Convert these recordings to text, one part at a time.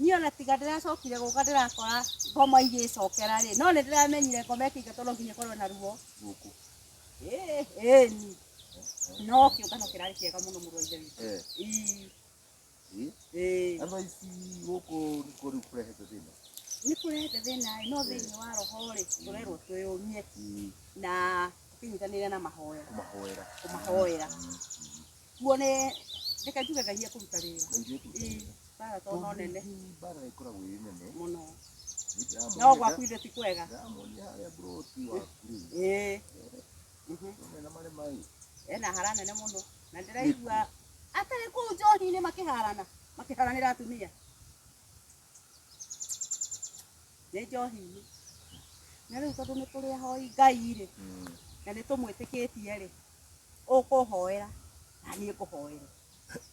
niĩ ona tiga ndĩracokire gũka ndĩrakora ngoma igĩcokera rĩ no nĩ ndĩramenyire ngoma ĩkĩingatwo no nginya ĩkorwo na ruo gũkũ Ĩĩ, ĩni no kĩũngano kĩrarĩ kĩega mũno mũrũ wa ithe witũ Eh, Ii, eh. ĩĩ. Andũ aici gũkũ nĩ kũ rĩu kũrehete thĩna. nĩ kũrehete thĩna ĩ no thĩinĩ wa roho rĩ tũrerwo twĩyũmie Mm, na tũkĩnyitanĩre na mahoya Kũmahoera. kũmahoera Kuo nĩ reke njuge Ngai ekũruta wĩra. Ĩĩ, bara to no nene bara ĩkoragwo ĩ nene mũno. No gwaku ithe ti kwega. ndamuonia harĩa mburoti waku Ĩĩ. Mhm. rĩ na marĩ maĩ Ena hara nene mũno. Na ndĩraigua atarĩ kũu njohi-inĩ makĩharana. Makĩharanĩra atumia. nĩ njohi-inĩ na rĩu tondũ nĩ tũrĩ ahoi ngai-rĩ na nĩ tũmwĩtĩkĩtie-rĩ ũkũhoera na niĩ ngũhoere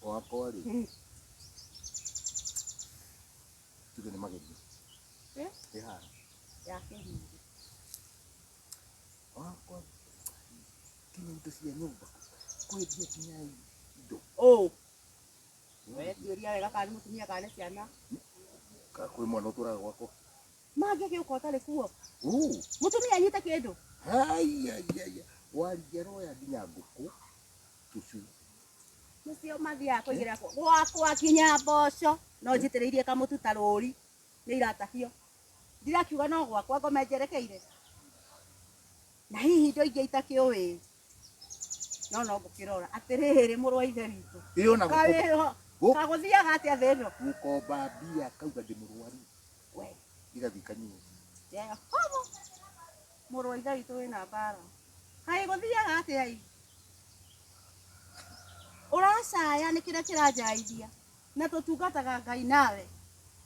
wakwa rĩ Mm. tuge nĩ magerio Eh? ĩhara ya kĩhingi wakwa kinya indo cia nyũmba kwendia kinya indo ũũ Wetiũria wega kana nĩ mũtumia kana nĩ ciana. Ka- Kwĩ mwana ũtũraga gwakwa. Mangĩgĩ ũka ũtarĩ kuo. Uu. Mũtumia anyite kĩndũ. Haiyaiyaiya. Waria roya nginya ngũkũ. Tũcui. Nĩcio mathiaga kũigĩra kwa- gwakwa nginya mboco. No njitĩrĩirie kamũtu ta rũri. Nĩ iratahio. Ndirakiuga no gwakwa ngome njerekeire. Na hihi indo ingĩ itakĩũĩ. no no ngũkĩrora atĩrĩrĩ mũrũ wa ithe witũ ĩ ona gũko- kawĩho Gũ- kagũthiaga atĩa thĩ ĩno gũkomba mbia kauga ndĩ mũrwaru we igathiĩ kanyua Jehova mũrũ wa ithe witũ wĩna mbara kaĩ gũthiaga atĩa i ũracaya nĩ kĩrĩa kĩranjaithia na tũtungataga ngai nawe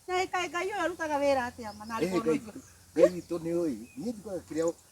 na kaĩ ngai ũyũ arutaga wĩra atĩa ma na Ĩ, arĩ Ngai- mũndũ ngai witũ nĩ ũĩ niĩ njugaga kĩrĩa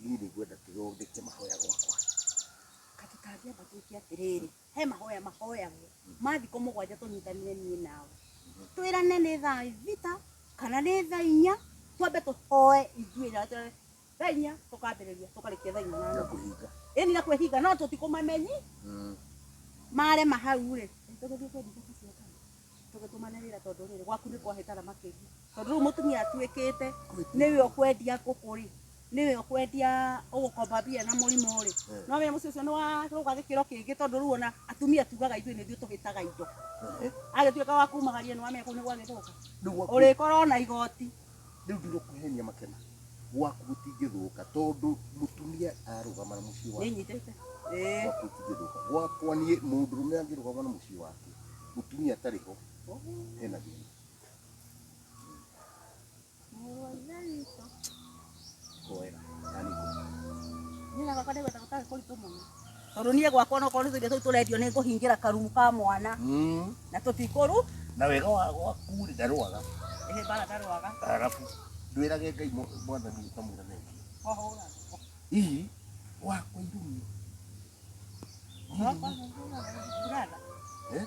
niĩ nĩ ngwenda tũthondeke mahoya gwakwa atĩ tangĩamba twĩke atĩrĩrĩ he mahoya mahoyagwo mathikũ mũgwanja tũnyitanĩre niĩ nawe twĩrane nĩ thaa thita kana nĩ thaa inya twambe tũhoe ithuĩ na twĩrane thaa inya tũkambĩrĩria tũkarĩkia thaa inya na na nuthu kũhinga ĩni na kwĩhinga no tũtikũmamenyi marema hau rĩ tũgũthiĩ kwendithia kaciakana tũgĩtũmane wĩra tondũ rĩrĩ gwaku nĩ kwahĩtara makĩria tondũ rĩu mũtumia atuĩkĩte nĩwe ũkwendia ngũkũ rĩ nĩwe ũkwendia ũgũkomba mbia na mũrimũ rĩ no wĩra mũciĩ ũcio nĩ warũga gĩkĩro kĩngĩ tondũ rĩu ona atumia tugaga ithuĩ nĩthuĩ tũhĩtaga indo agĩtuĩka wa kumagaria nĩ wamenya kũu nĩ gwagĩthũka Nĩguo- ũrĩkorwo na igoti rĩu ndirũkuhenia makena gwaku gũtingĩthũka tondũ mũtumia arũgama na mũciĩ wake Nĩnyitĩte. Ĩĩ. gwaku gũtingĩthũka gwakwa niĩ mũndũrũme angĩrũgama na mũciĩ wake mũtumia atarĩ ho hena thĩna Mũrũ wa Ithe witũ. Kwega. Na nĩ kũ? Niĩ na baba nĩgwetha gũtarĩ kũritũ mũno tondũ niĩ gwakwa no korwo indo tũu tũrendio nĩ ngũhingĩra karumu ka mwana Mm. na tũtikũru Na wega wa gwaku rĩ ndarwaga. ĩhĩ bara ndarwaga Arabu ndwĩrage Ngai mwa- mwathani ũkamwĩra thengio. kwahũra Ii wakwa irumi. Ndũrada. Eh?